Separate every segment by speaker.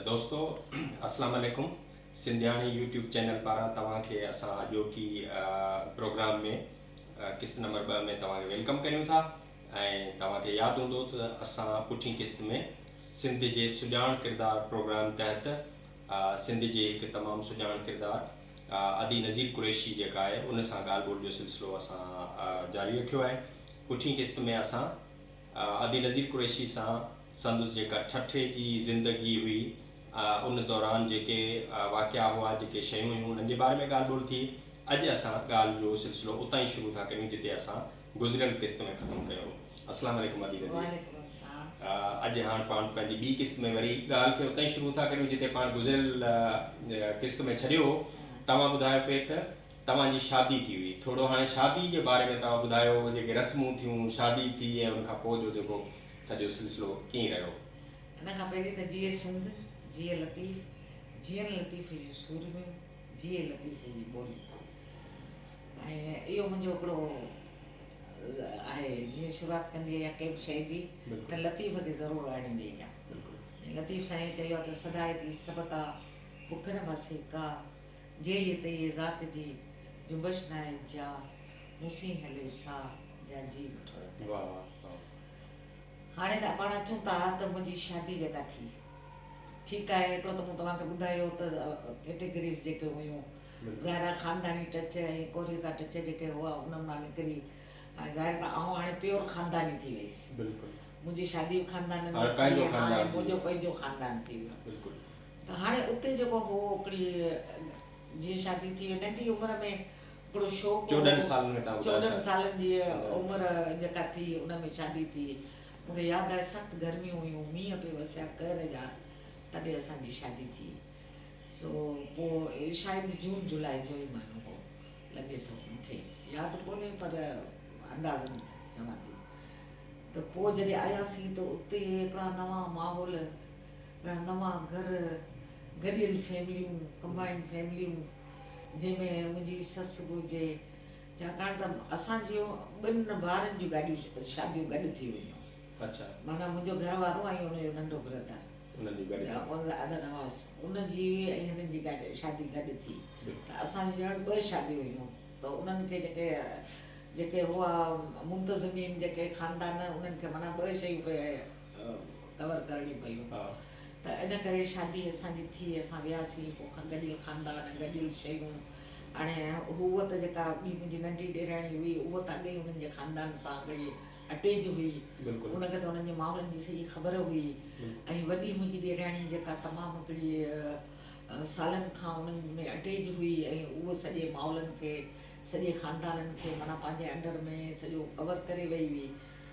Speaker 1: دوستو اسلام عليڪم سنڌياڻي يوٽيوب چينل پاران توهان کي اسان اڄوڪي پروگرام ۾ قسط نمبر ٻه ۾ توهان کي ويلڪم ڪريون ٿا ۽ توهان کي ياد هوندو ته اسان پٺين قسط ۾ سنڌ جي سڄاڻ ڪردار پروگرام تحت سنڌ جي هڪ تمام سڄاڻ ڪردار ادي نذير قريشي جيڪا آهي ان سان ڳالهه ٻولهه جو سلسلو اسان جاري رکيو آهي پٺين قسط ۾ اسان ادي نظير قريشي سان سندس جيڪا ٺٺي جي زندگي هئي ان دوران جيڪي واقعا هئا جيڪي شيون هيون انهن جي باري ۾ ڳالهه ٻولهه ٿي اڄ اسان ڳالهه جو سلسلو اتان ئي شروع ٿا ڪريون جتي اسان گذريل قسط ۾ ختم ڪيو هو السلام عليڪم ادي نظير وعليڪم السلام اڄ هاڻ پاڻ پنهنجي ٻي قسط ۾ وري ڳالهه کي اتان ئي شروع ٿا ڪريون جتي پاڻ گذريل قسط ۾ ڇڏيو هو توهان ٻڌايو پي ته توهان جي شادي ٿي هئي ٿورو هاڻي شادي جي باري ۾ توهان ٻڌايو جيڪي رسمون ٿيون شادي ٿي ۽ ان کان پوء جو جيڪو سڄو سلسلو ڪيئن رهيو. ان کان پهرين
Speaker 2: ته جيئي سنڌ جيئي لطيف جيئن لطيف جون سورميون جيئي لطيف جي ٻولي ۽ اهو منهنجو هڪڙو آهي جيئن شروعات ڪندي آهي ڪنهن به شئي جي ته لطيف کي ضرور آڻيندي آهيان لطيف سائين چيو آهي ته سدائي ٿي سبتا بک نه ڀسي ڪا جي هي ته اهي ذات جي جنبش ناهي جا مون سين هلي ساهه جا جي وٺو رنگ تي. هاڻي ته پاڻ اچون ٿا ته منهنجي شادي جيڪا ٿي. ٺيڪ آهي هڪڙو ته مون توهان کي ٻڌايو ته ڪيٽيگريز جيڪي هيون ظاهر آهي خانداني ٽچ ۽ ڪوريتا ٽچ جيڪي هئا انهن مان نڪري هاڻي ظاهر آهي ته آئون هاڻي پيور خانداني ٿي ويس منهنجي شادي به خاندانن ۾ ٿي هاڻي منهنجو پنهنجو خاندان ٿي ويو. ته هاڻي اتي جيڪو هو هڪڙي جيئن شادي ٿي وئي ننڍي عمر ۾ هڪڙو شوق هو چوڏهن سالن ۾ تان ٻڌايو چوڏهن سالن جي عمر جيڪا ٿي ان ۾ شادي ٿي مون کي ياد آهي سخت گرميون هيون مينهن پئي وسيا قهر جا تڏهن اسان جي شادي ٿي سو پوء شايد جون جولاء جو ئي مهينو هو لڳي ٿو مون کي ياد ڪونهي پر اندازن چوان ٿي ته پوء جڏهن آياسين ته اتي هڪڙا نوان ماحول رهنما گهر، گڏيل فيمليون، ڪمبائنڊ فيمليون، جنهن ۾ منهنجي سس به هجي، ڇاڪاڻ ته اسان جون ٻن ڀائرن جون گاڏيون شاديون گڏ ٿي ويون. معنيٰ
Speaker 1: منهنجو گهر
Speaker 2: وارو ۽ ان جو ننڍو برادر ادر نواز ان جي ۽ هنن جي شادي گڏ ٿي ته اسان جون ڄڻ ٻه شاديون هيون ته انهن کي جيڪي جيڪي هئا منتظمين جيڪي خاندان انهن کي معنيٰ ٻه شيون پئي ڪور ڪرڻيون پيون ته ان ڪري شادي اسان جي ٿي اسان وياسين پوء کان گڏيل خاندان گڏيل شيون هاڻي هوء ته جيڪا ٻي منهنجي ننڍي ڏيراڻي هئي اهو ته اڳي ئي انهن جي خاندان سان اڳڙي اٽيج هئي ان کي ته انهن جي ماڻهن جي سڄي خبر هئي ۽ وڏي منهنجي ڏيراڻي جيڪا تمام هڪڙي سالن کان انهن ۾ اٽيج هئي ۽ اهو سڄي ماحولن کي سڄي خاندانن کي معنيٰ پنهنجي انڊر ۾ سڄو ڪور ڪري وئي هئي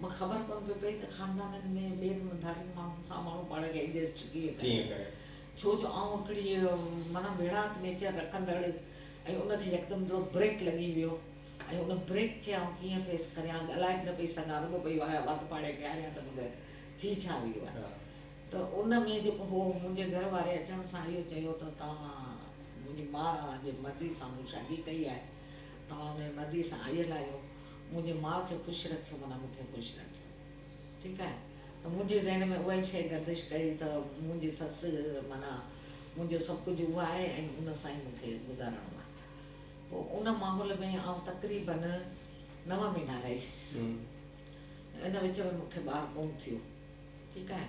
Speaker 2: مون کي خبر ڪونه پئي پئي ته خاندانن ۾ ٻين ڌارين ماڻهن سان ماڻهو پاڻ کي ايڊجسٽ ڪيئن ڪري، ڇو جو آئون هڪڙي معنيٰ ويڙهاڪ نيچر رکندڙ ۽ ان کي يڪدم جهڙو بريڪ لڳي ويو ۽ ان بريڪ کي آئون ڪيئن فيس ڪريان ڳالهائي به نه پئي سگهان رڳو پئي واهه وات پاڙي پياريان ته بغير ٿي ڇا ويو آهي ته ان ۾ جيڪو هو منهنجي گهر واري اچڻ سان اهو چيو ته توهان منهنجي ماء جي مرضي سان مون شادي ڪئي آهي توهان ان جي مرضي سان آيل آهيو منهنجي ماء کي خوش رکيو معنيٰ مون کي خوش رکيو ٺيڪ آهي ته منهنجي ذهن ۾ اها ئي شيء گردش ڪئي ته منهنجي سس معنيٰ منهنجو سڀ ڪجهه اها آهي ۽ ان سان ئي مون کي گذارڻو آهي پوء ان ماحول ۾ آئون تقريباً نو مهينا رهيس ان وچ ۾ مون کي ٻار ڪونه ٿيو ٺيڪ آهي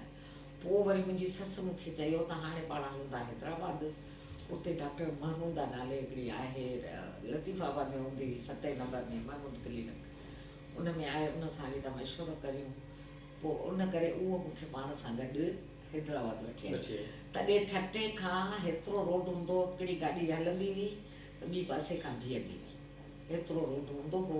Speaker 2: پوء وري منهنجي سس مون کي چيو ته هاڻي پاڻ هلون ٿا حيدرآباد. اتي ڊاڪٽر محموده نالي هڪڙي آهي، لطيف آباد ۾ هوندي هئي، ستين نمبر ۾ محمود ڪلينڪ، ان ۾ آهي، ان سان هلي ٿا مشورو ڪريون. پوء ان ڪري اهو مون کي پاڻ سان گڏ حيدرآباد وٺي آئي. تڏهن ٺٽي کان هيترو روڊ هوندو هو، هڪڙي گاڏي هلندي هئي ته ٻي پاسي کان بيهندي هئي. هيترو روڊ هوندو هو.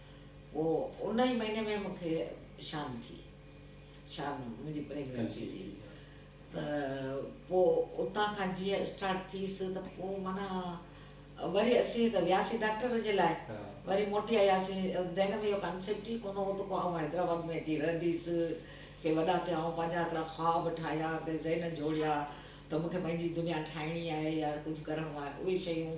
Speaker 2: هو ان ئي مهيني ۾ مون کي شان ٿي شان منهنجي پريگننسي ٿي ته پوء اتان کان جيئن اسٽارٽ ٿيس ته پوء معنيٰ وري اسين ته وياسين ڊاڪٽر جي لاء وري موٽي آياسين ذهن ۾ اهو ڪانسيپٽ ئي ڪونه هو ته پوء آئون حيدرآباد ۾ اچي رهنديس ڪي وڏا ڪي آئون پنهنجا هڪڙا خواب ٺاهيا ڪي ذهن جوڙيا ته مون کي پنهنجي دنيا ٺاهڻي آهي يا ڪجهه ڪرڻو آهي اهي شيون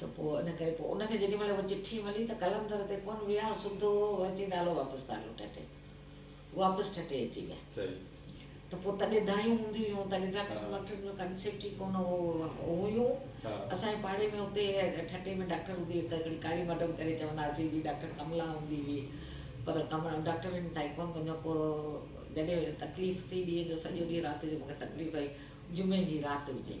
Speaker 2: ته پوء ان ڪري پوء ان کي جيڏي مھل اھا چٺي ملي ته قلندر تي ڪون ويا سڌو اھو اچي ته ھلو واپس ته ھلو ٺٽي واپس ٺٽي اچي ويا ته پوء تڏھن دانھيون ھونديون ھيون تڏھن ڊاڪٽرن واڪٽرن جو ڪانسيپٽ ئي ڪون ھو ھيو اسان جي پاڙي ۾ اتي ٺٽي ۾ ڊاڪٽر ھوندي ھڪ ھڪڙي ڪاري مئڊم ڪري چوندا ھئاسين جي ڊاڪٽر ڪملا ھوندي ھئي پر ڊاڪٽرن تائين ڪون وڃيو پوء جڏھن تڪليف ٿي ڏينھن جو سڄو ڏينھن رات جو مونکي تڪليف ھئي جمعي جي رات ھجي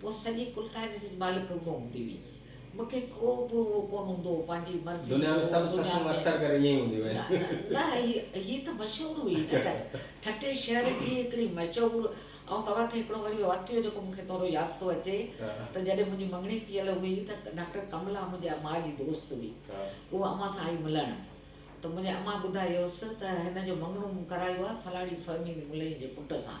Speaker 2: پوء سڄي ڪلڪائني تي مالڪ رڳو هوندي هئي. مون کي ڪو به اهو ڪونه هوندو هو، پنهنجي مرضي جو دنيا ۾ سڀ دنيا سسون ۾
Speaker 1: اڪثر ڪري ائين ئي هونديون آهن. نه نه هي هي
Speaker 2: ته مشهور هئي نه ٺٽي ٺٽي شهر جي هڪڙي مشهور آئون توهان کي هڪڙو وري واقعو جيڪو مون کي ٿورو ياد ٿو اچي ته جڏهن منهنجي مڱڻي ٿيل هئي ته ڊاڪٽر ڪملا منهنجي امان جي دوست هئي اها امان سان آئي ملڻ ته منهنجي امان ٻڌايوس ته هن جو مڱڻو مون ڪرايو آهي فلاڻي فهمي ملئي جي پٽ سان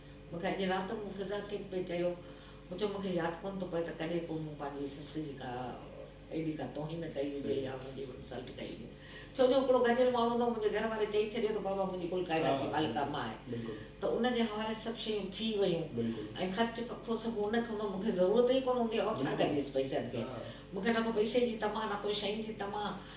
Speaker 2: مون کي اڄ رات مون فضا کي پئي چيو مون چيو مون کي ياد ڪونه ٿو پوي ته ڪڏهن ڪو مون پنهنجي سس جي ڪا ايڏي ڪا توهين ڪئي هجي يا ان جي انسلٽ ڪئي هجي ڇو جو هڪڙو گڏيل ماڻهو هوندو منهنجي گهر واري چئي ڇڏيو ته بابا منهنجي ڪل ڪائنات جي مالڪه امان آهي ته ان جي حوالي سڀ شيون ٿي ويون ۽ خرچ ڪکو سڀ ان کي هوندو مون کي ضرورت ئي ڪونه هوندي آئون ڇا ڪنديس پئسن کي مون کي نه ڪو پئسي جي طمع نه ڪو شين جي طمع